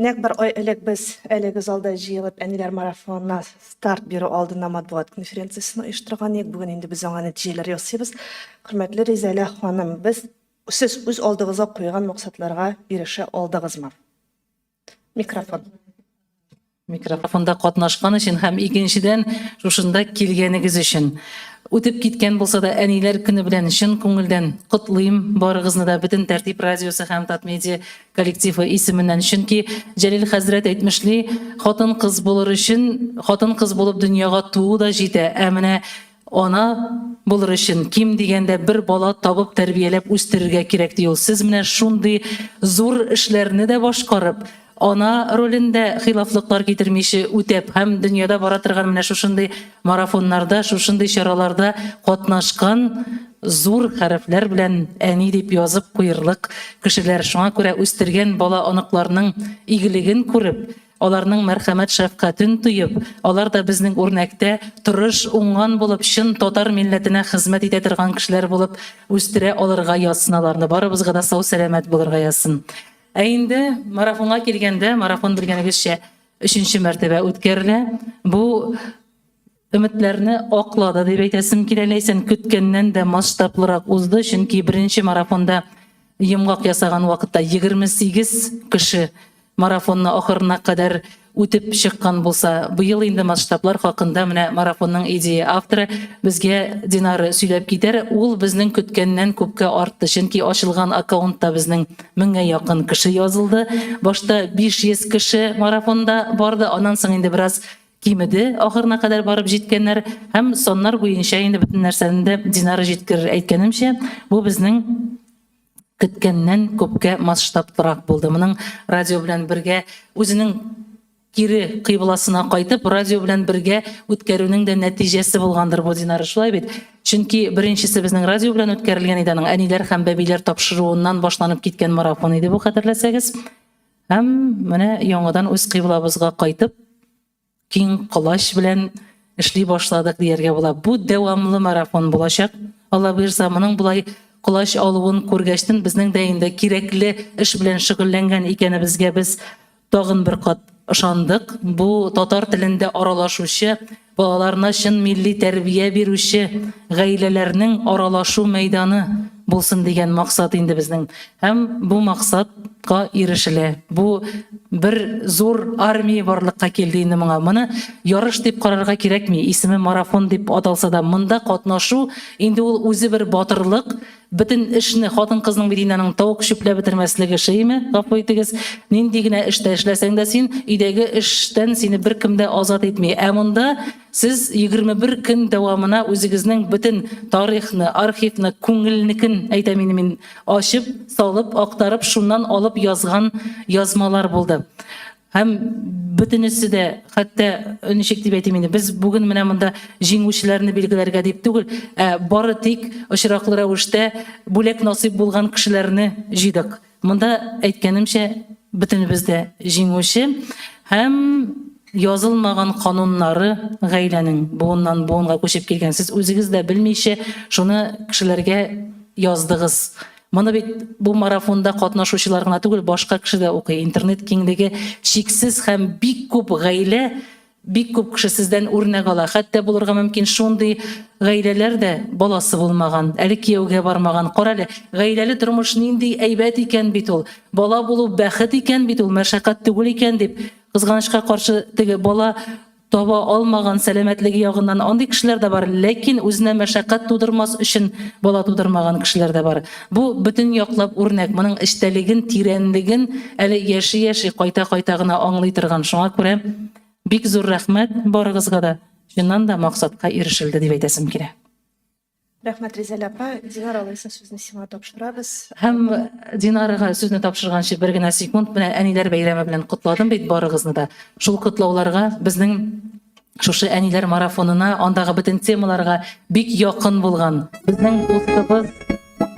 Нәкъ бер ай элек без әлеге залда җыелып Әниләр марафонына старт бирү алдыннан матбугат конференциясен оештырган идек. Бүген инде без аңа нәтиҗәләр ясыйбыз. Хөрмәтле Ризәлә ханым, без, сез үз алдыгызга куйган максатларга ирешә алдыгызмы? Микрофон. Микрофонда катнашкан өчен һәм икенчедән, шушында килгәнегез өчен. Үтеп киткән булса да, Әниләр көне белән чын күңелдән котлыйм барыгызны да, бөтен Тәртип радиосы һәм Татмедиа коллективы исеменнән, чөнки Җәлил хәзрәт әйтмешли, хатын-кыз булыр өчен хатын-кыз булып дөньяга туу да җитә, ә менә ана булыр өчен ким дигәндә бер бала табып тәрбияләп үстерергә кирәк ди ул. Сез менә шундый зур эшләрне дә башкарып, ана ролен дә хилафлыклар китермичә үтәп һәм дөньяда бара торган менә шушындый Марафоннарда, шушындый чараларда катнашкан зур хәрефләр белән әни дип язып куерлык кешеләр. Шуңа күрә үстергән бала оныкларның игелеген күреп, аларның мәрхәмәт шәфкатен тоеп, алар да безнең үрнәктә тырыш, уңган булып, чын татар милләтенә хезмәт итә торган кешеләр булып үстерә алырга язсын аларны. Барыбызга да сау-сәламәт булырга язсын. Ә инде марафонга килгәндә, марафон белгәнегезчә, Өченче мәртәбә үткәрелә. Бу өметләрне аклады дип әйтәсем килә. Ләйсән көткәннән дә масштаблырак узды, чөнки беренче марафонда йомгак ясаган вакытта 28 кеше марафонны ахырына кадәр үтеп чыккан булса, быел инде масштаблар хакында менә марафонның идея авторы безгә Динара сөйләп китәр. Ул безнең көткәннән күпкә артты, чөнки ачылган аккаунтта безнең Меңгә якын кеше язылды. Башта 500 кеше марафонда барды, аннан соң инде бераз кимеде, ахырына кадәр барып җиткәннәр һәм саннар буенча инде бөтен нәрсәне дә Динара җиткерер. Әйткәнемчә, бу безнең көткәннән күпкә масштабрак булды. Моның радио белән бергә үзенең Кире кыйбласына кайтып, радио белән бергә үткәрүнең дә нәтиҗәсе булгандыр бу, Динара, шулай бит? Чөнки беренчесе безнең радио белән үткәрелгән иде, аның әниләр һәм бәбиләр тапшыруыннан башланып киткән марафон иде бу, хәтерләсәгез. Һәм менә яңадан үз кыйблабызга кайтып, киң колач белән эшли башладык, дияргә була. Бу дәвамлы марафон булачак, Алла боерса. Моның болай колач алуын күргәчтен, безнең дә инде кирәкле эш белән шөгыльләнгән икәнебезгә без Тагын бер кат ышандык, бу татар телендә аралашучы, балаларына чын милли тәрбия бирүче гаиләләрнең аралашу мәйданы булсын дигән максат инде безнең. Һәм бу максатка ирешелә. Бу бер зур армия барлыкка килде инде моңа. Моны ярыш дип карарга кирәкми, исеме марафон дип аталса да, монда катнашу инде ул үзе бер батырлык, Бөтен эшне хатын-кызның бит инде аның тавык чүпләп бетермәслеге шиеме, гафу итегез. Нинди генә эштә эшләсәң дә син, өйдәге эштән сине беркем дә азат итми. Ә монда сез 21 көн дәвамына үзегезнең бөтен тарихны, архивны, күңелнекен, әйтәм инде мин, ачып, салып, актарып, шуннан алып язган язмалар булды. Һәм бөтенесе дә, хәтта ничек дип әйтим инде, без бүген менә монда җиңүчеләрне билгеләргә дип түгел, ә бары тик очраклы рәвештә бүләк насыйп булган кешеләрне җыйдык. Монда, әйткәнемчә, бөтенебез дә җиңүче һәм язылмаган кануннары гаиләнең буыннан буынга күчеп килгән. Сез үзегез дә белмичә шуны кешеләргә яздыгыз, Моны бит бу марафонда катнашучылар гына түгел, башка кеше дә укый. Интернет киңлеге чиксез һәм бик күп гаилә, бик күп кеше сездән үрнәк ала. Хәтта булырга мөмкин шундый гаиләләр дә, баласы булмаган, әле кияүгә бармаган. Карале, гаиләле тормыш нинди әйбәт икән бит ул! Бала булу бәхет икән бит ул, мәшәкать түгел икән дип, кызганычка каршы, теге бала Таба алмаган, сәламәтлеге ягыннан андый кешеләр дә бар, ләкин үзенә мәшәкать тудырмас өчен бала тудырмаган кешеләр дә бар. Бу, бөтен яклап үрнәк, моның эчтәлеген, тирәнлеген әле яши-яши, кайта-кайта гына аңлый торган. Шуңа күрә бик зур рәхмәт барыгызга да, чыннан да максатка ирешелде дип әйтәсем килә. Рәхмәт, Ризәлә апа. Динар, алайса, сүзне сиңа тапшырабыз. Һәм Динарга сүзне тапшырганчы бер генә секунд, менә әниләр бәйрәме белән котладым бит барыгызны да. Шул котлауларга, безнең шушы әниләр марафонына, андагы бөтен темаларга бик якын булган безнең дустыбыз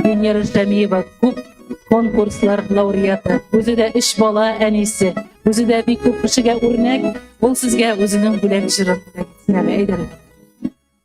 Венера Шәмиева, күп конкурслар лауреаты, үзе дә өч бала әнисе, үзе дә бик күп кешегә үрнәк, ул сезгә үзенең бүләк җырын әйтсен әле, әйдәгез.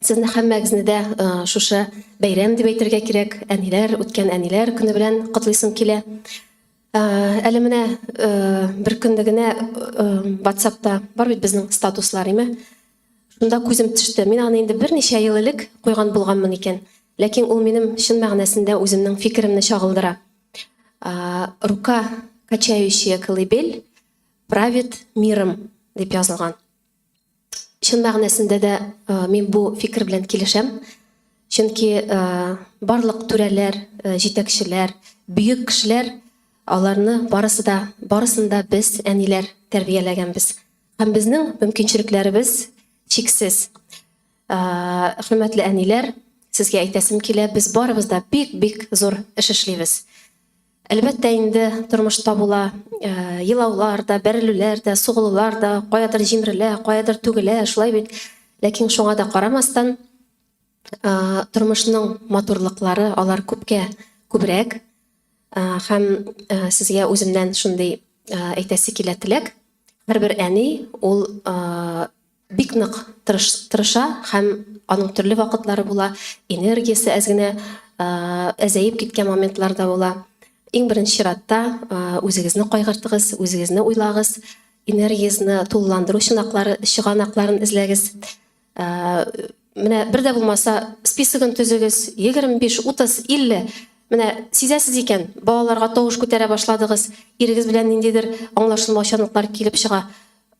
Сезне һәммәгезне дә шушы бәйрәм дип әйтергә кирәк, әниләр, үткән әниләр көне белән котлыйсым килә. Әле менә бер көнне генә WhatsApp-та бар бит безнең статуслар, име? Шунда күзем төште. Мин аны инде берничә ел элек куйган булганмын икән, ләкин ул минем чын мәгънәсендә үземнең фикеремне чагылдыра. Рука, качающая колыбель, правит миром, дип язылган. Чын мәгънәсендә дә мин бу фикер белән килешәм. Чөнки барлык түрәләр, җитәкчеләр, бөек кешеләр аларны барысы да, барысын да без әниләр тәрбияләгәнбез. Һәм безнең мөмкинчелекләребез чиксез. Хөрмәтле әниләр, сезгә әйтәсем килә, без барыбыз да бик-бик зур эш эшлибез. Әлбәттә инде тормышта була, елаулар да, бәрелүләр дә, сугылулар да, каядыр җимерелә, каядыр түгелә, шулай бит? Ләкин шуңа да карамастан, тормышның матурлыклары, алар күпкә күбрәк. Һәм сезгә үземнән шундый әйтәсе килә теләк, һәрбер әни ул Бик нык тырыша һәм аның төрле вакытлары була, энергиясе әз генә әзәеп киткән моментлар да була. Иң беренче чиратта үзегезне кайгыртыгыз, үзегезне уйлагыз, энергиясне тулыландыру чынаклары, чыганакларын эзләгез. Менә бер дә булмаса списогын төзегез, 25, 30, 50. Менә сизәсез икән, балаларга тавыш күтәрә башладыгыз, ирегез белән ниндидер аңлашылмаучанлыклар килеп чыга.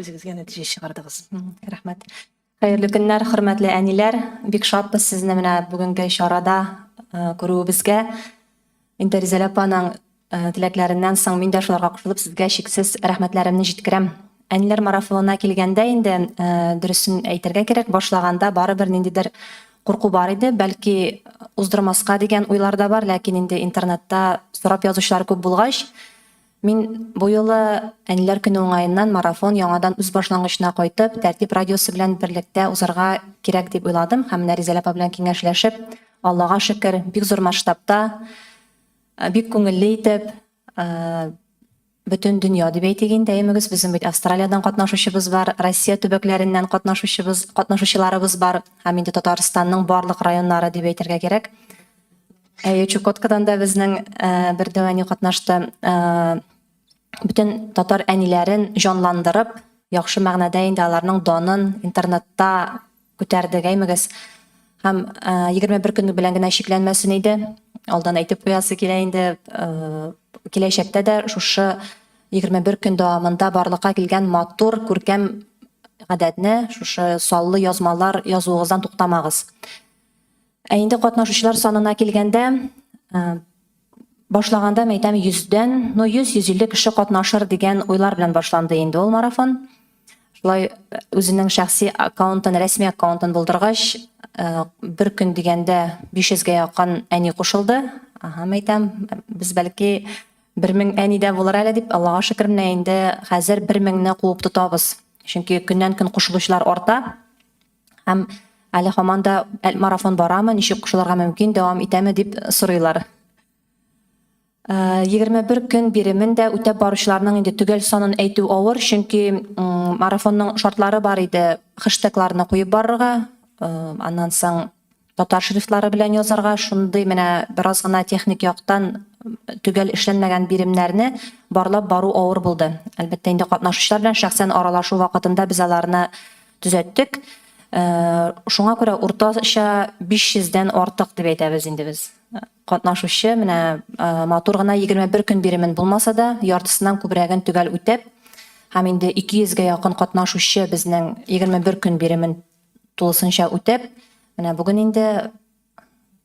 Үзегезгә нәтиҗә чыгардыгыз. Рәхмәт. Хәерле көннәр, хөрмәтле әниләр. Бик шатбыз сезне менә бүгенге чарада күрүебезгә. Инде Ризәлә апаның теләкләреннән соң мин дә шуларга кушылып сезгә чиксез рәхмәтләремне җиткерәм. Әниләр марафонына килгәндә инде, дөресен әйтергә кирәк, башлаганда барыбер ниндидер курку бар иде. Бәлки уздырмаска дигән уйлар да бар, ләкин инде интернетта сорап язучылар күп булгач, Мин бу юлы Әниләр көне уңаеннан марафон яңадан үз башлангычына кайтып, Тәртип радиосы белән берлектә узарга кирәк дип уйладым һәм менә Ризәлә апа белән киңәшләшеп, Аллага шөкер, бик зур масштабта, бик күңелле итеп, бөтен дөнья дип әйтик инде, әйемегез, безнең бит Австралиядән катнашучыбыз бар, Россия төбәкләреннән катнашучыбыз, катнашучыларыбыз бар һәм инде Татарстанның барлык районнары дип әйтергә кирәк. Әйе, Чукоткадан да безнең бер дәвәни катнашты. Бүтән татар әниләрен җанландырып, яхшы мәгънәдә инде аларның данын интернетта күтәрдек, әймегез. Һәм 21 көн белән генә чикләнмәсен иде. Алдан әйтеп куясы килә инде, киләчәктә дә шушы 21 көн дәвамында барлыкка килгән матур, күркәм гадәтне, шушы саллы язмалар язуыгыздан туктамагыз. Ә инде катнашучылар санына килгәндә, башлаганда мин әйтәм, 100дән, ну 100-150 кеше катнашыр дигән уйлар белән башланды инде ул марафон. Шулай үзенең шәхси аккаунтын, рәсми аккаунтын булдыргач, бер көн дигәндә 500гә якын әни кушылды. Һәм әйтәм, без бәлки 1000 әни дә булыр әле дип, Аллага шөкер, менә инде хәзер 1000 не куып тотабыз. Чөнки көннән-көн кушылучылар арта. Һәм әле һаман да марафон барамы, ничек кушылырга мөмкин, дәвам итәме дип сорыйлар. 21 көн биремен дә үтәп баручыларның инде төгәл санын әйтү авыр, чөнки марафонның шартлары бар иде, хэштегларны куеп барырга, аннан соң Татар шрифтлары белән язарга шундый менә бераз гына техник яктан төгәл эшләнмәгән биремнәрне барлап бару авыр булды. Әлбәттә, инде катнашучылар белән шәхсән аралашу вакытында без аларны төзәттек. Шуңа күрә уртача 500 дән артык дип әйтәбез инде без. Катнашучы менә матур гына 21 көн биремен булмаса да, яртысыннан күбрәген төгәл үтәп һәм инде 200 гә якын катнашучы безнең 21 көн биремен тулысынча үтәп, менә бүген инде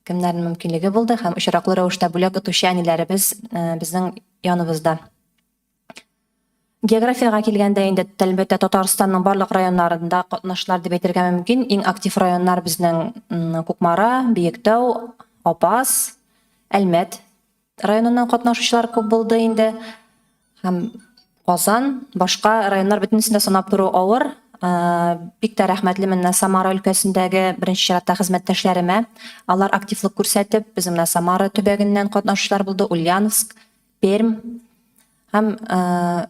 кемнәрнең мөмкинлеге булды һәм очраклы рәвештә бүләк отучы әниләребез безнең яныбызда. Географиягә килгәндә инде, әлбәттә, Татарстанның барлык районнарында катнашлар дип әйтергә мөмкин. Иң актив районнар безнең Кукмара, Биектау, Апас, Әлмәт Районыннан катнашучылар күп булды инде. Һәм Казан, башка районнар бөтенесен дә санап тору авыр. Бик тә рәхмәтлемен менә Самара өлкәсендәге беренче чиратта хезмәттәшләремә. Алар активлык күрсәтеп, безнең менә Самара төбәгеннән катнашучылар булды, Ульяновск, Пермь һәм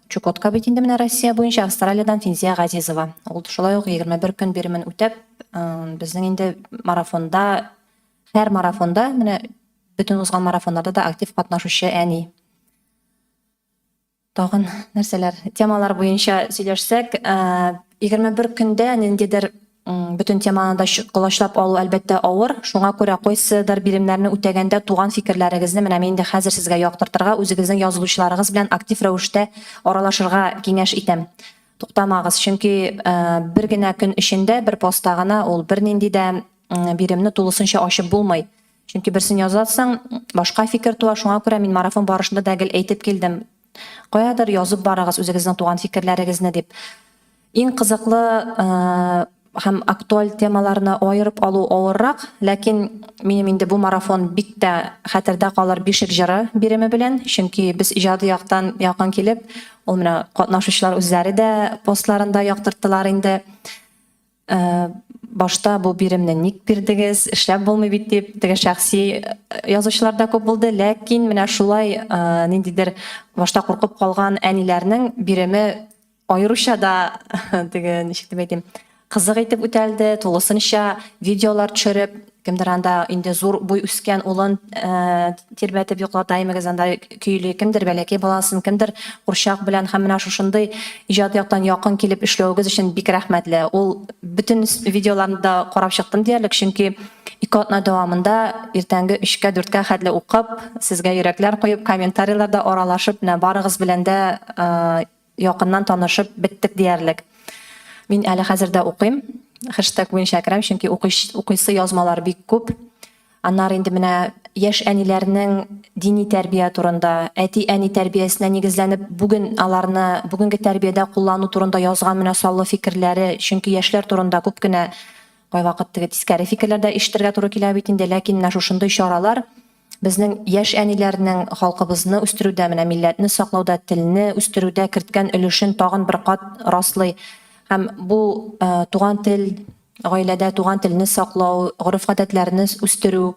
Чукотка бит инде менә Россия буенча, Австралиядән Финзия Газизова. Ул шулай ук 21 көн биремен үтәп, безнең инде марафонда Һәр марафонда, менә бөтен узган марафоннарда да актив катнашучы әни. Тагын нәрсәләр, темалар буенча сөйләшсәк, 21 көндә ниндидер бөтен теманы да колачлап алу әлбәттә авыр. Шуңа күрә кайсыдыр биремнәрне үтәгәндә туган фикерләрегезне менә мин инде хәзер сезгә яктыртырга, үзегезнең язылучыларыгыз белән актив рәвештә аралашырга киңәш итәм. Туктамагыз, чөнки бер генә көн эчендә, бер постта гына ул бернинди дә биремне тулысынча ачып булмый. Чөнки берсен язасың, башка фикер туа, шуңа күрә мин марафон барышында да гел әйтеп килдем, каядыр язып барыгыз үзегезнең туган фикерләрегезне дип. Иң кызыклы һәм актуаль темаларны аерып алу авыррак, ләкин минем инде бу марафон бик тә хәтердә калыр Бишек җыры биреме белән, чөнки без иҗади яктан якын килеп, ул менә катнашучылар үзләре дә постларында яктырттылар инде. башта бу биремне ник бирдегез, эшләп булмый бит дип теге шәхси э, язучылар да күп булды, ләкин менә шулай э, ниндидер башта куркып калган әниләрнең биреме аеруча да теге ничек дип әйтим, кызык итеп үтәлде, тулысынча видеолар төшереп, Кемдер анда инде зур буй үскән улын тирбәтеп йоклата, әймәгез анда көйли, кемдер бәләкәй баласын, кемдер курчак белән һәм менә шушындый иҗат яктан якын килеп эшләвегез өчен бик рәхмәтле. Ул бөтен видеоларны да карап чыктым диярлек, чөнки ике атна дәвамында иртәнге өчкә, дүрткә хәтле укып, сезгә йөрәкләр куеп, комментарийларда аралашып, менә барыгыз белән дә Якыннан танышып беттек диярлек. Мин әле хәзер дә укыйм. Хэштег буенча керәм, чөнки укыйсы язмалар бик күп. Аннары инде менә яшь әниләрнең дини тәрбия турында, әти-әни тәрбиясенә нигезләнеп бүген аларны бүгенге тәрбиядә куллану турында язган менә саллы фикерләре, чөнки яшьләр турында күп кенә кайвакыт теге тискәре фикерләр дә ишетергә туры килә бит инде, ләкин менә шушындый чаралар Безнең яшь әниләрнең халкыбызны үстерүдә, менә милләтне саклауда, телне үстерүдә керткән өлешен тагын бер кат раслый һәм бу туган тел, гаиләдә туган телне саклау, гореф-гадәтләрне үстерү,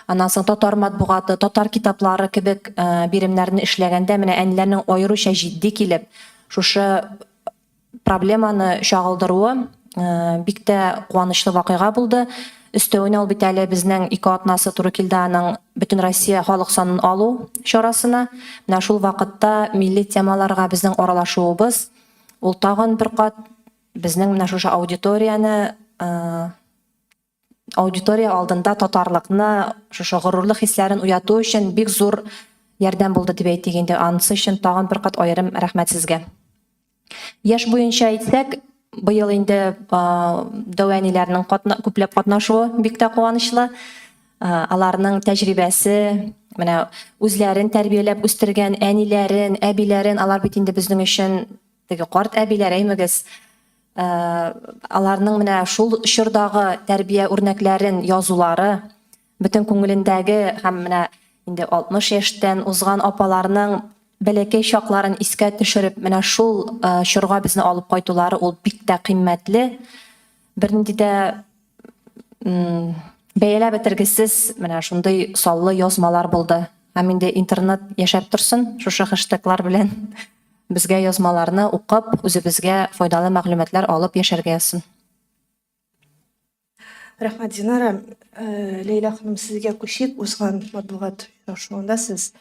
аннан соң татар матбугаты, татар китаплары кебек биремнәрне эшләгәндә менә әниләрнең аеруча җитди килеп, шушы проблеманы чагылдыруы бик тә куанычлы вакыйга булды. Өстәвенә ул бит әле безнең ике атнасы туры килде аның Бөтенроссия халык санын алу чарасына. Менә шул вакытта милли темаларга безнең аралашуыбыз, ул тагын бер кат безнең менә шушы аудиторияне, аудитория алдында татарлыкны, шушы горурлык хисләрен уяту өчен бик зур ярдәм булды дип әйтик инде. Анысы өчен тагын бер кат аерым рәхмәт сезгә. Яшь буенча әйтсәк, быел инде Дәү әниләрнең күпләп катнашуы бик тә куанычлы. Аларның тәҗрибәсе, менә үзләрен тәрбияләп үстергән әниләрен, әбиләрен, алар бит инде безнең өчен теге карт әбиләр, әймегез. аларның менә шул чордагы тәрбия үрнәкләрен язулары, бөтен күңелендәге һәм менә инде 60 яшьтән узган апаларның бәләкәй чакларын искә төшереп, менә шул чорга безне алып кайтулары ул бик тә кыйммәтле. Бернинди дә Бәяләп бетергесез менә шундый саллы язмалар булды. Һәм инде интернет яшәп торсын шушы хэштеглар белән. Безгә язмаларны укып, үзебезгә файдалы мәгълүматлар алып яшәргә язсын. Рәхмәт, Динара. Ләйлә ханым, сезгә күчеп, узган матбугат очрашуында сез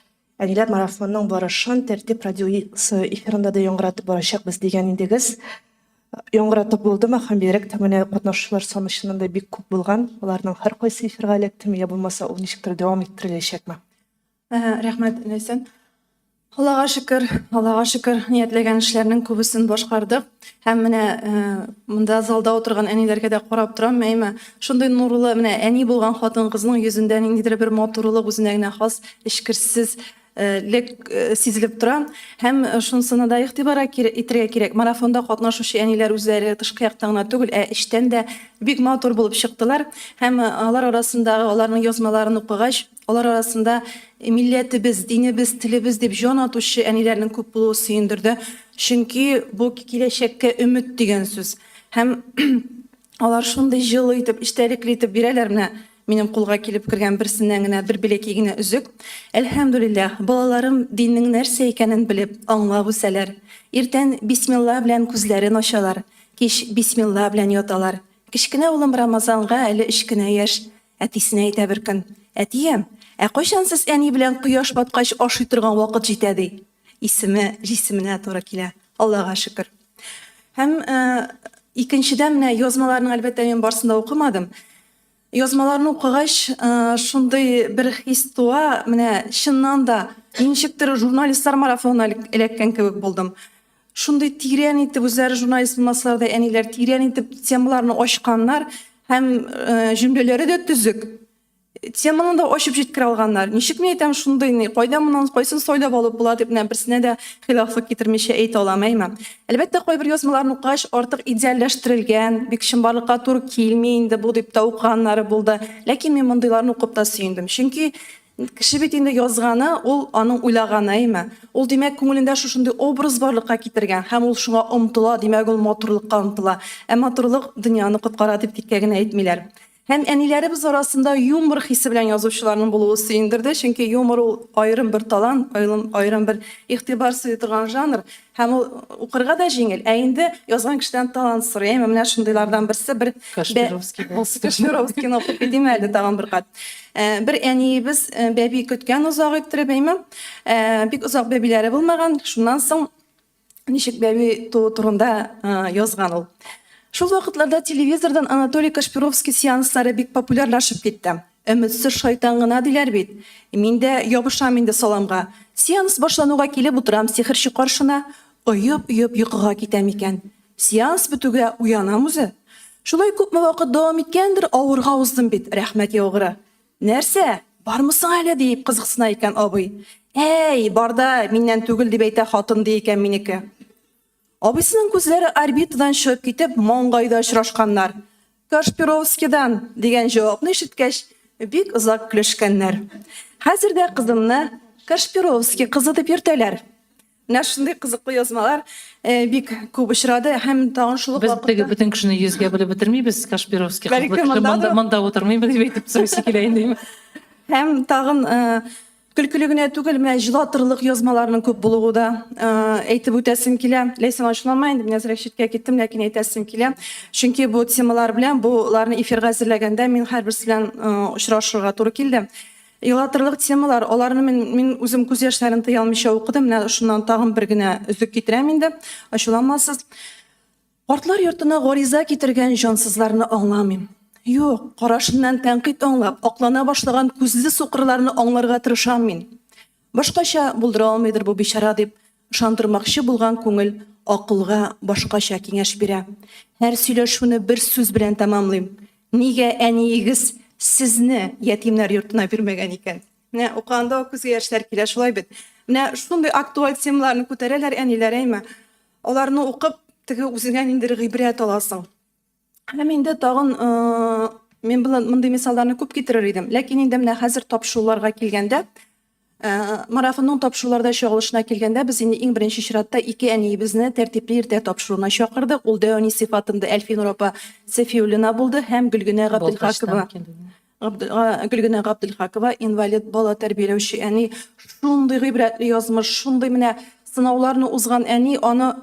Әллә марафонның барышын Тәртип радиосы эфирында да яңгыратып барачакбыз дигән идегез. Яңгыратып булдымы? Һәм бигрәк тә менә катнашучылар саны чыннан да бик күп булган. Аларның һәркайсы эфирга эләктеме, я булмаса ул ничектер дәвам иттереләчәкме? Рәхмәт, Ләйсән. Аллага шөкер, Аллага шөкер, ниятләгән эшләрнең күбесен башкардык. Һәм менә монда залда утырган әниләргә дә карап торам, мәймә, шундый нурлы, менә әни булган хатын-кызның йөзендә ниндидер бер матурлык, үзенә генә хас эчкерсез лек сизелеп тора. Һәм шунысына да игътибар итәргә кирәк, марафонда катнашучы әниләр үзләре тышкы яктан гына түгел, ә эчтән дә бик матур булып чыктылар. Һәм алар арасындагы, аларның язмаларын укыгач, Алар арасында милләтебез, динебез, телебез дип җан атучы әниләрнең күп булуы сөендерде, чөнки бу киләчәккә өмет дигән сүз. Һәм алар шундый җылы итеп, эчтәлекле итеп бирәләр, менә минем кулга килеп кергән берсеннән генә бер бәләкәй генә өзек. Әлхәмдүлилләһ, балаларым диннең нәрсә икәнен белеп, аңлап үсәләр. Иртән бисмилла белән күзләрен ачалар, кич бисмилла белән яталар. Кечкенә улым Рамазанга әле өч кенә яшь. Әтисенә әйтә бер көн. Әтием, ә кайчан сез әни белән кояш баткач ашый торган вакыт җитә, ди. Исеме җисеменә туры килә. Аллага шөкер. Һәм икенчедән менә язмаларның әлбәттә мин барсын да укымадым. Язмаларны укыгач, шундый бер хис туа, менә чыннан да ничектер журналистлар марафонына эләккән кебек булдым. Шундый тирән итеп үзләре журналист булмасалар да әниләр тирән итеп темаларны ачканнар һәм җөмләләре дә төзек. Теманы да ачып җиткерә алганнар. Ничек мин әйтәм шундый ни, кайда моннан кайсын сайлап алып була дип менә берсенә дә хилафлык китермичә әйтә алам, әйме? Әлбәттә, кайбер язмаларны укыгач, артык идеальләштерелгән, бик чынбарлыкка туры килми инде бу дип тә укыганнары булды. Ләкин мин мондыйларны укып та сөендем. Чөнки Кеше бит инде язганы, ул аның уйлаганы, әйме? Ул, димәк, күңелендә шушындый образ барлыкка китергән һәм ул шуңа омтыла, димәк, ул матурлыкка омтыла. Ә матурлык дөньяны коткара дип тиккә генә әйтмиләр. Һәм әниләребез арасында юмор хисе белән язучыларның булуы сөендерде, чөнки юмор ул аерым бер талант, аерым бер игътибар сыйдырган жанр. Һәм ул укырга да җиңел, ә инде язган кешедән талант сорый. Әйме, менә шундыйлардан берсе бер Кашпировский булсын. Кашпировский укып китим әле тагын бер кат. Э, бер әниебез э, бәби көткән озак иттереп, әйме. Э, бик озак бәбиләре булмаган. Шуннан соң ничек бәби туу турында язган ул. Шул вакытларда телевизордан Анатолий Кашпировский сеанслары бик популярлашып китте. Өметсез шайтан гына диләр бит. Мин дә ябышам инде саламга. Сеанс башлануга килеп утырам сихерче каршына, оеп-оеп йокыга китәм икән. Сеанс бетүгә уянам үзе. Шулай күпме вакыт дәвам иткәндер, авырга уздым бит, рәхмәт яугыры. Нәрсә, бармы соң әле? диеп кызыксына икән абый. Әй, бар да, миннән түгел, дип әйтә хатын, ди икән минеке. Абыйсының күзләре орбитадан чыгып китеп, маңгайда очрашканнар. Кашпировскидан! дигән җавапны ишеткәч, бик озак көлешкәннәр. Хәзер дә кызымны Кашпировский кызы дип йөртәләр. Менә шундый кызыклы язмалар бик күп очрады һәм тагын шул ук вакытта. Без теге бөтен кешене йөзгә бүлеп бетермибез, Кашпировский кызлы кеше монда утырмыймы дип әйтеп сорыйсы килә инде. Һәм тагын Көлкеле генә түгел, менә җылатырлык язмаларның күп булуы да әйтеп үтәсем килә. Ләйсән, ачуланма инде, мин әзрәк читкә киттем, ләкин әйтәсем килә. Чөнки бу темалар белән, боларны эфирга әзерләгәндә мин һәрберсе белән очрашырга туры килде. Елатырлык темалар, аларны мин, мин үзем күз яшьләрен тыя алмыйча укыдым. Менә шуннан тагын бер генә өзек китерәм инде, ачуланмасыз. Картлар йортына гариза китергән җансызларны аңламыйм. Юк, карашыннан тәнкыйть аңлап, аклана башлаган күзле сукырларны аңларга тырышам мин. Башкача булдыра алмыйдыр бу бичара дип ышандырмакчы булган күңел акылга башкача киңәш бирә. Һәр сөйләшүне бер сүз белән тәмамлыйм. Нигә әниегез сезне ятимнәр йортына бирмәгән икән? Менә укыганда ук күзгә яшьләр килә, шулай бит. Менә шундый актуаль темаларны күтәрәләр әниләр, әйме? Аларны укып, теге үзеңә ниндер гыйбрәт аласың. Һәм инде тагын мин белән мондый мисалларны күп китерер идем. Ләкин инде менә хәзер тапшыруларга килгәндә, марафонның тапшыруларда чыгылышына килгәндә, без инде иң беренче чиратта ике әниебезне тәртипле иртә тапшыруына чакырдык. Ул Дәүни сыйфатында Әлфинур апа Сәфиуллина булды һәм Гөлгенә Габделхакова. Гөлгенә Габделхакова, инвалид бала тәрбияләүче әни, шундый гыйбрәтле язмыш, шундый менә сынауларны узган әни, аны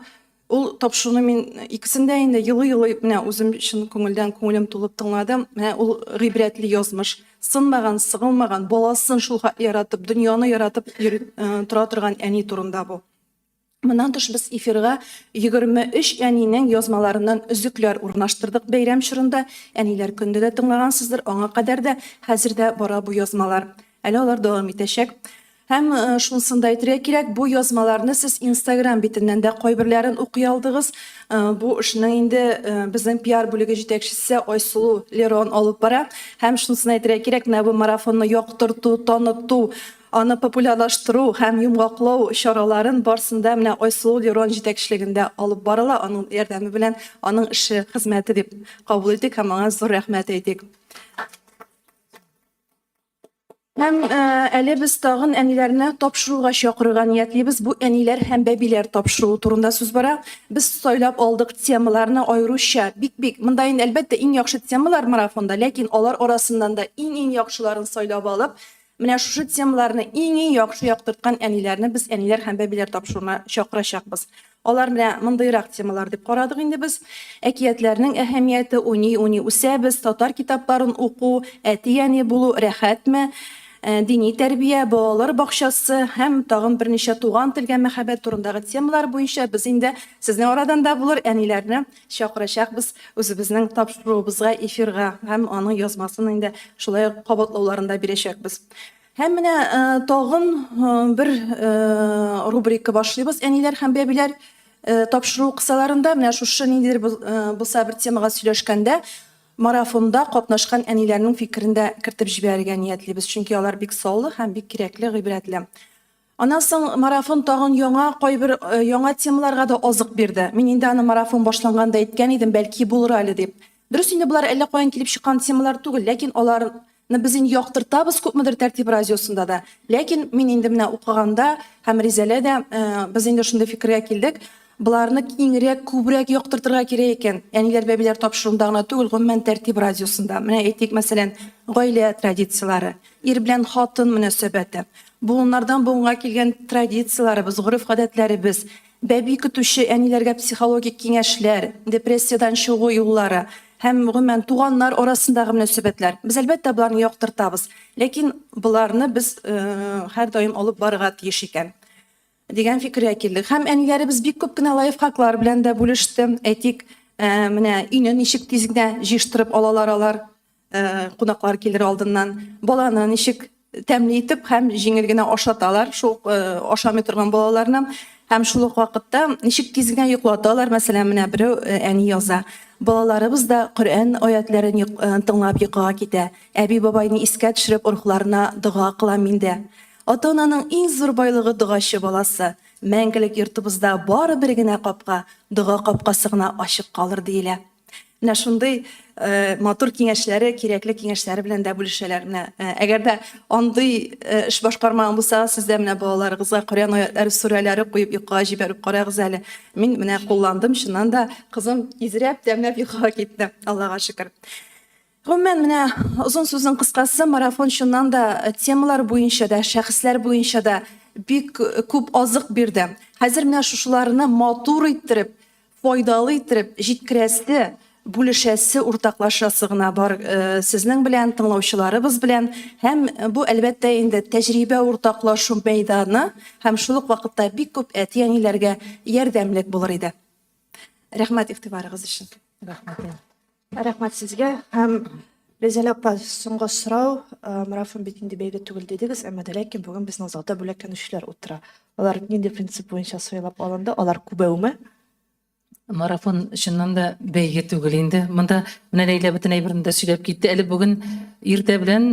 ул тапшыруны мин икесендә инде елый-елый менә үзем чын күңелдән күңелем тулып тыңладым. Менә ул гыйбрәтле язмыш, сынмаган, сыгылмаган, баласын шул хәтле яратып, дөньяны яратып тора торган әни турында бу. Моннан тыш без эфирга 23 әнинең язмаларыннан өзекләр урнаштырдык. Бәйрәм чорында, Әниләр көнендә дә тыңлагансыздыр, аңа кадәр дә, хәзер дә бара бу язмалар. Әле алар дәвам итәчәк. Һәм шунысын да әйтергә кирәк, бу язмаларны сез Instagram битеннән дә кайберләрен укый алдыгыз. Бу эшнең инде безнең пиар бүлеге җитәкчесе Айсылу Лерон алып бара. Һәм шунысын әйтергә кирәк, менә бу марафонны яктырту, таныту Аны популярлаштыру һәм йомгаклау чараларын барсын да менә Айсылу Лерон җитәкчелегендә алып барыла. Аның ярдәме белән аның эше, хезмәте дип кабул итик һәм аңа зур рәхмәт әйтик. Һәм әле без тагын әниләрне тапшыруга чакырырга ниятлибез. Бу әниләр һәм бәбиләр тапшыруы турында сүз бара. Без сайлап алдык темаларны аеруча. Бик-бик, монда инде әлбәттә иң яхшы темалар марафонда, ләкин алар арасыннан да иң-иң яхшыларын сайлап алып, Менә шушы темаларны иң-иң яхшы яктырткан әниләрне без Әниләр һәм бәбиләр тапшыруына чакырачакбыз. Алар менә мондыйрак темалар дип карадык инде без, Әкиятләрнең әһәмияте, Уйный-уйный үсәбез, Татар китапларын уку, Әти-әни булу рәхәтме, Дини тәрбия, Балалар бакчасы һәм тагын берничә Туган телгә мәхәббәт турындагы темалар буенча без инде сезнең арадан да булыр әниләрне Чакырачакбыз үзебезнең тапшыруыбызга эфирга һәм аның язмасын инде шулай ук кабатлауларында бирәчәкбез. Һәм менә тагын бер рубрика башлыйбыз Әниләр һәм бәбиләр тапшыру кысаларында менә шушы ниндидер булса бер темага сөйләшкәндә марафонда катнашкан әниләрнең фикерен дә кертеп җибәрергә ниятлибез, чөнки алар бик саллы һәм бик кирәкле, гыйбрәтле. Аннан соң марафон тагын яңа, кайбер яңа темаларга да азык бирде. Мин инде аны марафон башланганда әйткән идем, бәлки булыр әле дип. Дөрес инде болар әллә каян килеп чыккан темалар түгел, ләкин алар ны без инде яктыртабыз күпмедер тәртип радиосында да. Ләкин мин инде менә укыганда һәм Ризәлә дә без инде шундый фикергә килдек, Боларны киңрәк, күбрәк яктыртырга кирәк икән. Әниләр, бәбиләр тапшыруында гына түгел, гомумән Тәртип радиосында. Менә әйтик, мәсәлән, гаилә традицияләре, ир белән хатын мөнәсәбәте, буыннардан буынга килгән традицияләребез, гореф-гадәтләребез, бәби көтүче әниләргә психологик киңәшләр, депрессиядән чыгу юллары һәм, гомумән, туганнар арасындагы мөнәсәбәтләр. Без, әлбәттә, боларны яктыртабыз. Ләкин боларны без һәрдаим алып барырга тиеш икән. Дигән фикергә килдек. Һәм әниләребез бик күп кенә лайфхаклар белән дә бүлеште. Әйтик, менә өйне ничек тиз генә җыештырып алалар алар, кунаклар килер алдыннан, баланы ничек тәмле итеп һәм җиңел генә ашаталар шул ук ашамый торган балаларны һәм шул ук вакытта ничек тиз генә йоклаталар, мәсәлән, менә берәү әни яза, Балаларыбыз да Коръән аятьләрен тыңлап йокыга китә. Әби-бабайны искә төшереп рухларына дога кылам мин дә. Ата-ананың иң зур байлыгы догачы баласы. Мәңгелек йортыбызда бары бер генә капка, дога капкасы гына ачык калыр, диелә. Менә шундый матур киңәшләре, кирәкле киңәшләре белән дә бүлешәләр. Менә әгәр дә андый эш башкармаган булсагыз, сез дә менә балаларыгызга Коръән аятьләре, сүрәләре куеп йокыга җибәреп карагыз әле. Мин менә кулландым, чыннан да кызым изрәп, тәмләп йокыга китте, Аллага шөкер. Гомумән, менә озын сүзнең кыскасы, марафон чыннан да темалар буенча да, шәхесләр буенча да бик күп азык бирде. Хәзер менә шушыларны матур иттереп, файдалы иттереп җиткерәсе, бүлешәсе, уртаклашасы гына бар сезнең белән, тыңлаучыларыбыз белән. Һәм бу, әлбәттә инде, тәҗрибә уртаклашу мәйданы һәм шул ук вакытта бик күп әти-әниләргә ярдәмлек булыр иде. Рәхмәт игътибарыгыз өчен. Рәхмәт. Рәхмәт сезгә һәм Гүзәл апа, соңгы сорау. Марафон бит инде бәйге түгел дидегез, әмма дә ләкин бүген безнең залда бүләкләнүчеләр утыра. Алар нинди принцип буенча сайлап алынды? Алар күбәүме? Марафон чыннан да бәйге түгел инде. Монда менә Ләйлә бөтен әйберне дә сөйләп китте. Әле бүген иртә белән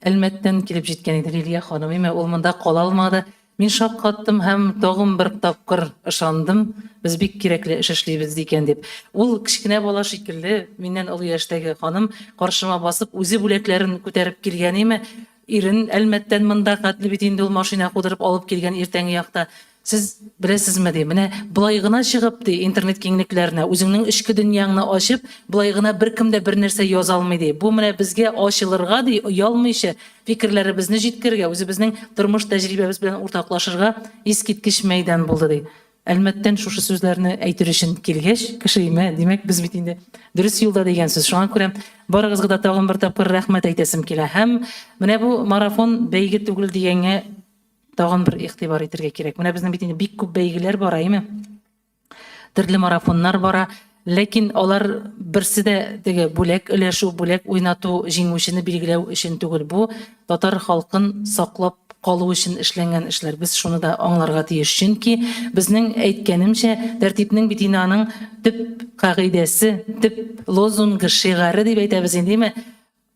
Әлмәттән килеп җиткән иде Лилия ханым. Имә ул монда кала алмады. Мин шаккаттым һәм тагын бер тапкыр ышандым, без бик кирәкле эш эшлибез икән дип. Ул кечкенә бала шикелле, миннән олы яшьтәге ханым, каршыма басып, үзе бүләкләрен күтәреп килгән име, ирен Әлмәттән монда хәтле бит инде ул машина кудырып алып килгән иртәнге якта. Сез беләсезме, ди, менә болай гына чыгып, ди, интернет киңлекләренә, үзеңнең эчке дөньяңны ачып, болай гына беркем дә бернәрсә яза алмый, ди. Бу менә безгә ачылырга, ди, оялмыйча фикерләребезне җиткерергә, үзебезнең тормыш тәҗрибәбез белән уртаклашырга искиткеч мәйдан булды, ди. Әлмәттән шушы сүзләрне әйтер өчен килгәч, кешеемә, димәк, без бит инде дөрес юлда дигән сүз. Шуңа күрә барыгызга да тагын бер тапкыр рәхмәт әйтәсем килә. Һәм менә бу марафон бәйге түгел дигәнгә Тагын бер игътибар итергә кирәк. Менә безнең бит инде бик күп бәйгеләр бара, әйме? Төрле марафоннар бара. Ләкин алар берсе дә теге бүләк өләшү, бүләк уйнату, җиңүчене билгеләү өчен түгел. Бу татар халкын саклап калу өчен эшләнгән эшләр. Без шуны да аңларга тиеш. Чөнки безнең, әйткәнемчә, тәртипнең бит инде аның төп кагыйдәсе, төп лозунгы, шигаре дип әйтәбез инде, әйме?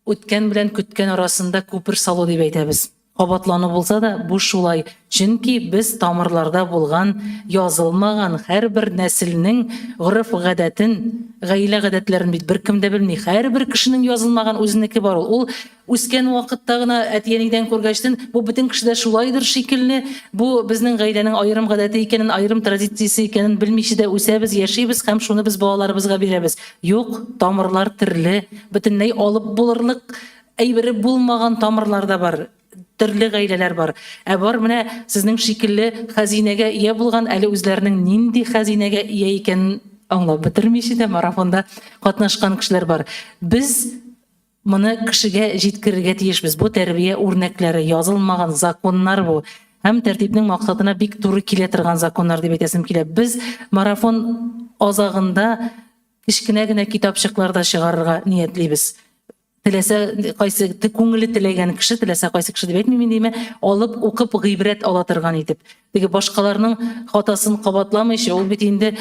Үткән белән көткән арасында күпер салу дип әйтәбез. Кабатлану булса да, бу шулай, чөнки без тамырларда булган, язылмаган һәрбер нәселнең гореф-гадәтен, гаилә гадәтләрен бит беркем дә белми. Һәрбер кешенең язылмаган үзенеке бар ул. Ул үскән вакытта гына әти-әнидән күргәчтен, бу бөтен кешедә шулайдыр шикелле, бу безнең гаиләнең аерым гадәте икәнен, аерым традициясе икәнен белмичә дә үсәбез, яшибез һәм шуны без балаларыбызга бирәбез. Юк, тамырлар терле, бөтенләй алып булырлык әйбере булмаган тамырлар да бар, төрле гаиләләр бар. Ә бар менә сезнең шикелле хәзинәгә ия булган, әле үзләренең нинди хәзинәгә ия икәнен аңлап бетермичә дә марафонда катнашкан кешеләр бар. Без. Моны кешегә җиткерергә тиешбез. Бу тәрбия үрнәкләре, язылмаган законнар бу. Һәм тәртипнең максатына бик туры килә торган законнар дип әйтәсем килә. Без марафон азагында кечкенә генә китапчыклар да чыгарырга ниятлибез. Теләсә кайсы күңеле теләгән кеше, теләсә кайсы кеше дип әйтмим инде, әмма алып укып гыйбрәт ала торган итеп. Теге башкаларның хатасын кабатламыйча, ул бит инде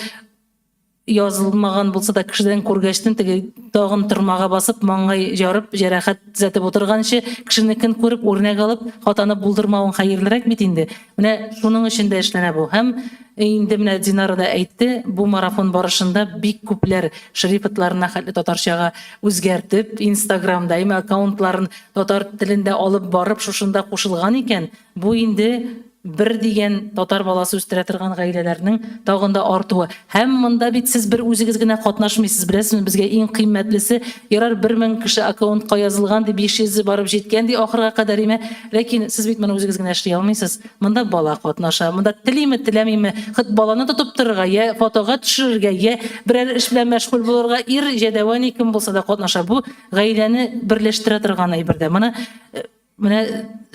Язылмаган булса да, кешедән күргәчтен, теге тагын тырмага басып, маңгай ярып, җәрәхәт төзәтеп утырганчы, кешенекен күреп, үрнәк алып, хатаны булдырмавың хәерлерәк бит инде. Менә шуның өчен дә эшләнә бу. Һәм инде менә Динара да әйтте, бу марафон барышында бик күпләр шрифтларына хәтле татарчага үзгәртеп, инстаграмда, имя аккаунтларын татар телендә алып барып, шушында кушылган икән. Бу инде бер дигән татар баласы үстерә торган гаиләләрнең тагын да артуы. Һәм монда бит сез бер үзегез генә катнашмыйсыз, беләсезме, безгә иң кыйммәтлесе, ярар, бер мең кеше аккаунтка язылган ди, биш йөзе барып җиткән ди ахырга кадәр име, ләкин сез бит моны үзегез генә эшли алмыйсыз, монда бала катнаша, монда телиме, теләмиме, хет баланы тотып торырга, йә фотога төшерергә, йә берәр эш белән мәшгуль булырга, ир, җәдәвәни кем булса да катнаша, бу гаиләне берләштерә торган әйбер дә. Моны Менә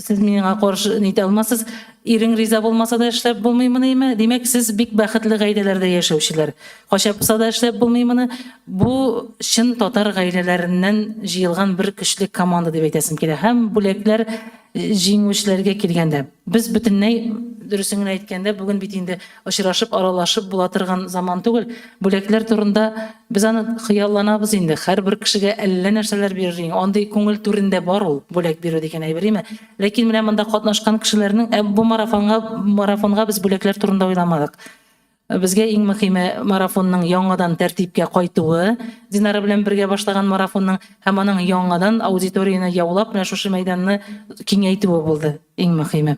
сез миңа каршы нитә алмасыз. Ирең риза булмаса да эшләп булмыймыниме? Димәк, сез бик бәхетле гаиләләрдә яшәүчеләр. Качапса да эшләп булмыймыны? Бу чын татар гаиләләреннән җыелган бер көчле команда дип әйтәсем килә. Һәм бүләкләр җиңүчеләргә килгәндә, без бөтенләй, дөресен генә әйткәндә, бүген бит инде Очрашып, аралашып була торган заман түгел. Бүләкләр турында без аны хыялланабыз инде. Һәрбер кешегә әллә нәрсәләр бирер иң. Андый күңел түрендә бар ул бүләк бирү дигән әйбер име? Ләкин менә монда катнашкан кешеләрнең, ә бу марафонга марафонга без бүләкләр турында уйламадык. Безгә иң мөхиме марафонның яңадан тәртипкә кайтуы, Динара белән бергә башлаган марафонның һәм аның яңадан аудиторияне яулап, менә шушы мәйданны киңәйтүе булды иң мөхиме.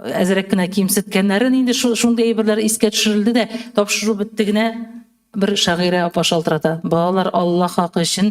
Әзрәк кенә кимсеткәннәрен инде шундый әйберләр искә төшерелде дә, тапшыру бетте генә, бер шагыйрә апа шалтырата. Балалар, Алла хакы өчен,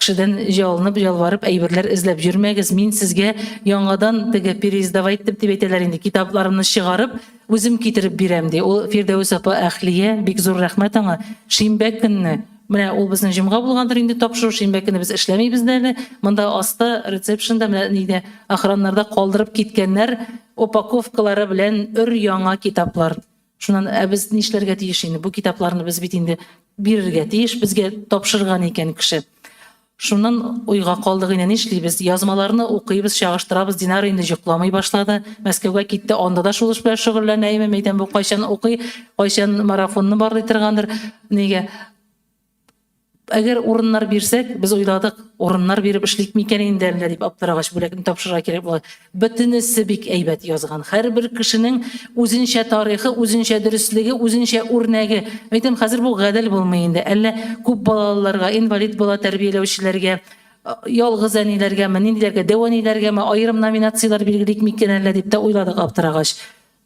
кешедән ялынып, ялварып әйберләр эзләп йөрмәгез, мин сезгә яңадан теге переиздавать итеп дип әйтәләр инде, китапларымны чыгарып, үзем китереп бирәм, ди. Ул Фирдәвес апа Әхлия, бик зур рәхмәт аңа, шимбә көнне Менә ул безнең җомга булгандыр инде тапшыру өчен, бәлки без эшләмибез дә әле. Монда аста рецепшнда менә нидә охраннарда калдырып киткәннәр упаковкалары белән өр-яңа китаплар. Шуннан ә без нишләргә тиеш инде? Бу китапларны без бит инде бирергә тиеш, безгә тапшырган икән кеше. Шуннан уйга калдык, инде нишлибез? Язмаларны укыйбыз, чагыштырабыз, Динара инде җокламый башлады. Мәскәүгә китте, анда да шул эш белән шөгыльләнәеме, мәйтәм, бу кайчан укый, кайчан марафонны барлый торгандыр. Нигә? Әгәр урыннар бирсәк, без уйладык, урыннар биреп эшлик микән инде әллә дип аптырагач, бүләкне тапшырырга кирәк була. Бөтенесе бик әйбәт язган. Һәрбер кешенең үзенчә тарихы, үзенчә дөреслеге, үзенчә үрнәге. Әйтәм, хәзер бу гадел булмый инде. Әллә күп балалыларга, инвалид бала тәрбияләүчеләргә, ялгыз әниләргәме, ниндиләргә, дәү әниләргәме аерым номинацияләр билгелик микән әллә дип тә уйладык аптырагач.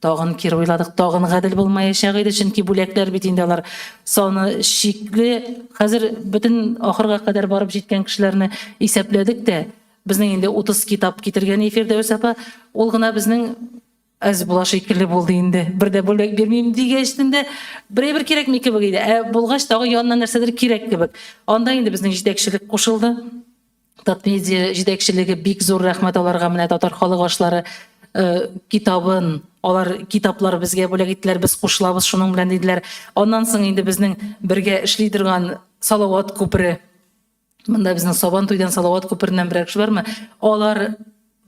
Тагын кире уйладык, тагын гадел булмаячак иде, чөнки бүләкләр бит инде алар саны чикле. Хәзер бөтен ахырга кадәр барып җиткән кешеләрне исәпләдек тә, безнең инде 30 китап китергән ей Фирдәүс апа, ул гына безнең әз була шикелле булды инде. Бер дә бүләк бирмим дигәч тендә берәйбер кирәкми кебек иде. Ә булгач тагы янына нәрсәдер кирәк кебек. Анда инде безнең җитәкчелек кушылды. Татмедиа җитәкчелеге бик зур рәхмәт аларга менә татар халык ашлары китабын алар китаплар безгә бүләк иттеләр без кушылабыз шуның белән диделәр аннан соң инде безнең бергә эшли торган салават күпере монда безнең сабан туйдан салават күпереннән берәр кеше бармы алар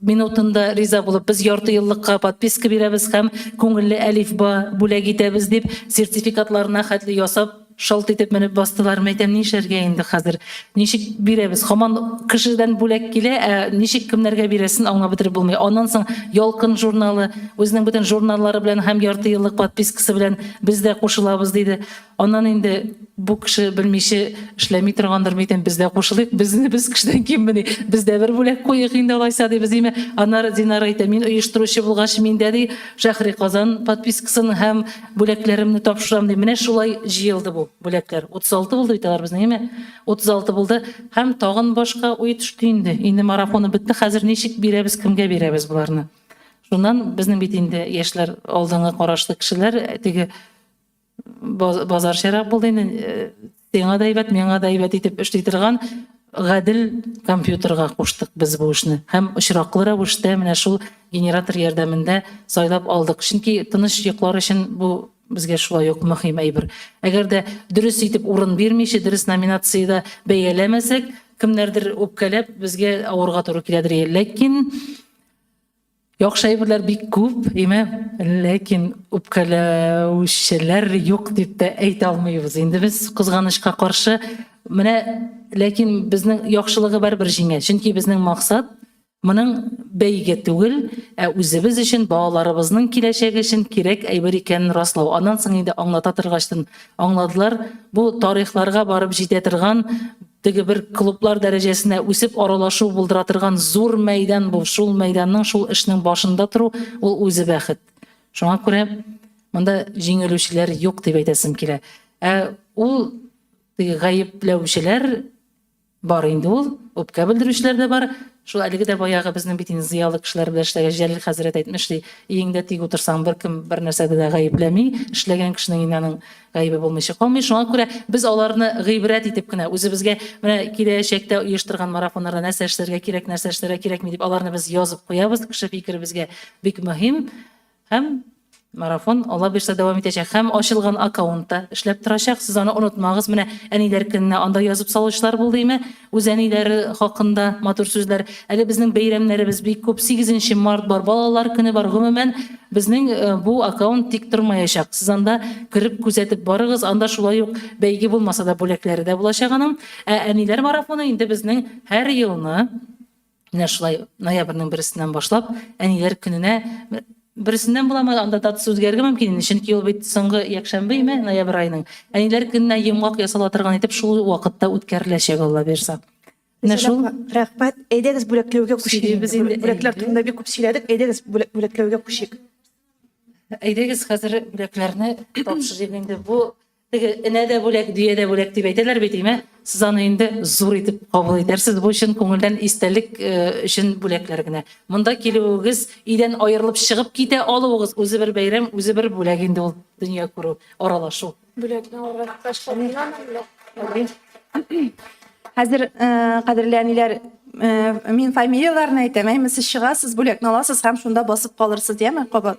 минутында риза булып, без ярты еллыкка подписка бирәбез һәм күңелле әлифба бүләк итәбез дип, сертификатларына хәтле ясап, шалт итеп менеп бастылар. Мин әйтәм, нишләргә инде хәзер? Ничек бирәбез? Хаман кешедән бүләк килә, ә ничек кемнәргә бирәсен аңлап бетереп булмый. Аннан соң Ялкын журналы, үзенең бөтен журналлары белән һәм ярты еллык подпискасы белән без дә кушылабыз, диде. Аннан инде бу кеше белмиче эшләми торгандыр мидем, без дә кушылыйк, безне без кешедән киммени, без дә бер бүләк куйыйк инде алайса, дибез, диме. Аннары Динара әйтә, мин оештыручы булгач, мин дә, ди, Шәһри Казан подпискасын һәм бүләкләремне тапшырам, ди. Менә шулай җыелды бу бүләкләр. 36 булды бит алар безнең, әйеме? 36 булды һәм тагын башка уй төште инде. Инде марафоны бетте, хәзер ничек бирәбез, кемгә бирәбез боларны? Шуннан, безнең бит инде яшьләр алдынгы карашлы кешеләр, теге, базарчарак булды инде сиңа да әйбәт миңа да әйбәт итеп эшли торган гадел компьютерга куштык без бу эшне һәм очраклы рәвештә менә шул генератор ярдәмендә сайлап алдык чөнки тыныч йоклар өчен бу безгә шулай ук мөһим әйбер әгәр дә дөрес итеп урын бирмичә дөрес номинациядә бәяләмәсәк кемнәрдер үпкәләп безгә авырга туры киләдер ләкин Яхшы әйберләр бик күп, әйме, ләкин үпкәләүчеләр юк дип тә әйтә алмыйбыз инде без, кызганычка каршы. Менә, ләкин безнең яхшылыгы барыбер җиңә, чөнки безнең максат моның бәйге түгел, ә үзебез өчен, балаларыбызның киләчәге өчен кирәк әйбер икәнен раслау. Аннан соң инде аңлата торгач тын аңладылар, бу тарихларга барып җитә торган Теге бер клублар дәрәҗәсенә үсеп аралашу булдыра торган зур мәйдан бу. Шул мәйданның, шул эшнең башында тору, ул үзе бәхет. Шуңа күрә монда җиңелүчеләр юк дип әйтәсем килә. Ә ул теге гаепләүчеләр бар инде ул, үпкә белдерүчеләр дә бар. Шул әлеге дә баягы безнең бит инде зыялы кешеләр белән эшләгән Җәлил хәзрәт әйтмешли, өеңдә тик утырсаң, беркем бернәрсәдә дә гаепләми, эшләгән кешенең инде аның Гаебе булмыйча калмый, шуңа күрә без аларны гыйбрәт итеп кенә, үзебезгә менә киләчәктә оештырган марафоннарда нәрсә эшләргә кирәк, нәрсә эшләргә кирәкми дип, аларны без язып куябыз, кеше фикере безгә бик мөһим. Һәм марафон, Алла бирсә, дәвам итәчәк һәм ачылган аккаунтта эшләп торачак, сез аны онытмагыз, менә Әниләр көненә анда язып салучылар булды име, Үз әниләре хакында матур сүзләр. Әле безнең бәйрәмнәребез бик күп. Сигезенче март бар, балалар көне бар. Гомумән, безнең бу аккаунт тик тормаячак. Сез анда кереп күзәтеп барыгыз, анда шулай ук бәйге булмаса да бүләкләре дә булачак аның. Ә әниләр марафоны инде безнең һәр елны. Менә шулай ноябрьнең берсеннән башлап әниләр көненә берсеннән буламы, анда датасы үзгәрергә мөмкин инде, чөнки ул бит соңгы якшәмбе име, ноябрь айының. Әниләр көненә йомгак ясала торган итеп шул вакытта үткәреләчәк, Алла бирса. Менә шул. Рәхмәт. Әйдәгез бүләкләүгә күчик. Сөйлибез инде. Бүләкләр турында бик күп сөйләдек. Әйдәгез бүләкләүгә күчик. Әйдәгез хәзер бүләкләрне тапшырыйк инде. Бу Теге энә дә бүләк, дөя дә бүләк дип әйтәләр бит, димә, сез аны инде зур итеп кабул итәрсез, бу чын күңелдән истәлек өчен бүләкләр генә. Монда килүегез, өйдән аерылып чыгып китә алуыгыз, үзе бер бәйрәм, үзе бер бүләк инде ул, дөнья күрү, аралашу. Бүләкне алырга мохтаҗ калдыңмы? Хәзер, кадерле әниләр, мин фамилияләрне әйтәм, әйме, сез чыгасыз, бүләкне аласыз һәм шунда басып калырсыз, яме, кабат.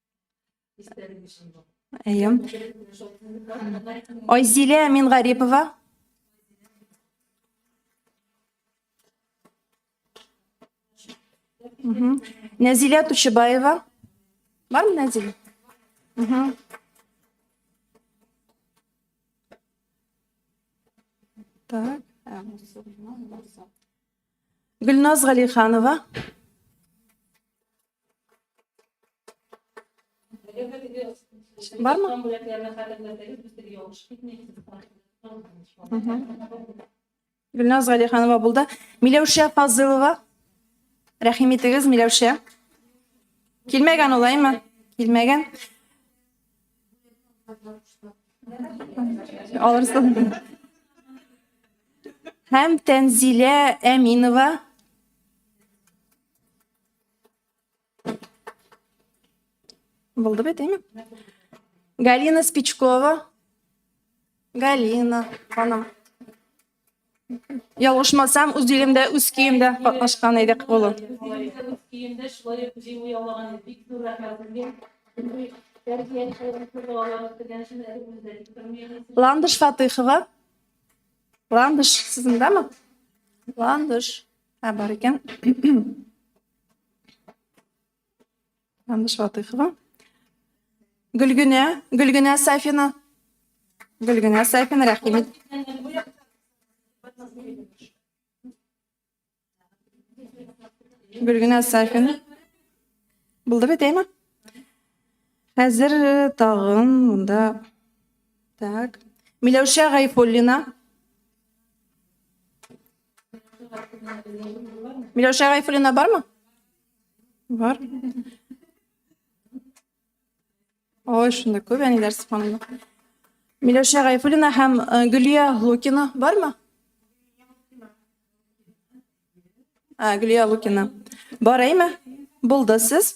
Әйе. Айзилә Мингарипова. Нәзилә Тучыбаева. Бармы Нәзилә? Так. Гөлназ Галиханова. Бармы? Гөлназ Галиханова булды. Миләүшә Фазылова. Рәхим итегез, Миләүшә. Килмәгән улаймы? Килмәгән. Алырсың. Һәм Тәнзилә Әминова. Булды бит, әйме? Галина Спичкова. Галина ханым. Ялгышмасам, үз илемдә, үз киемдә катнашкан идек ул. Ландыш Фатыхова. Ландыш, сез мондамы? Ландыш. Ә бар икән. Андыш Ватыхова. Гөлгенә, Гөлгенә Сафина. Гөлгенә Сафина, рәхим ит. Гөлгенә Сафина. Булды бит, әйме? Хәзер э, тагын монда. Так. Миләүшә Гайфуллина. Миләүшә Гайфуллина бармы? Бар. Ой, шунда күп әниләр сыфанлы. Миләүшә Гайфуллина һәм э, Гөлия Лукина бармы? Ә, Гөлия Лукина. Бар әйме? Булды сез.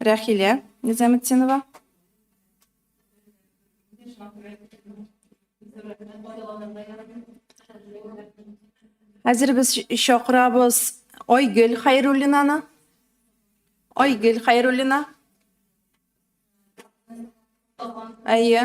Рәхилә Низаметдинова. Хәзер без чакырабыз Айгөл Хәйруллинаны. Айгөл Хәйруллина. Әйе.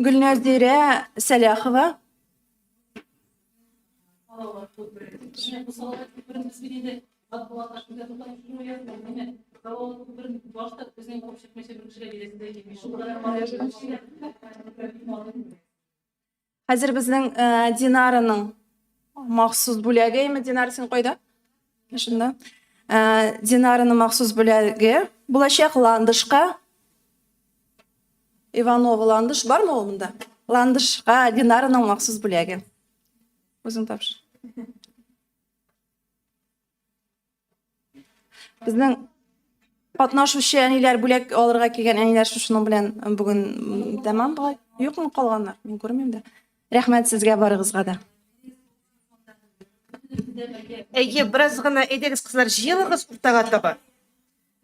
Гөлнәзирә Сәләхова. Хәзер безнең Динараның махсус бүләге. Динар, син кайда? Шунда Динараның махсус бүләге булачак ландышка. Иванова ландыш бармы ул монда? Ландышка Динараның махсус бүләге. Үзең тапшыр. Безнең катнашучы әниләр бүләк алырга килгән әниләр шушының белән бүген тәмам була. Юкмы калганнар? Мин күрмим дә. Рәхмәт сезгә барыгызга да. Әйе, бераз гына әйдәгез, кызлар, җыелыгыз уртага таба.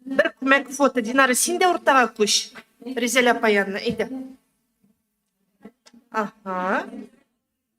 Бер күмәк фото. Динара, син дә уртага күч. Ризәлә апа янына, әйдә. Ага.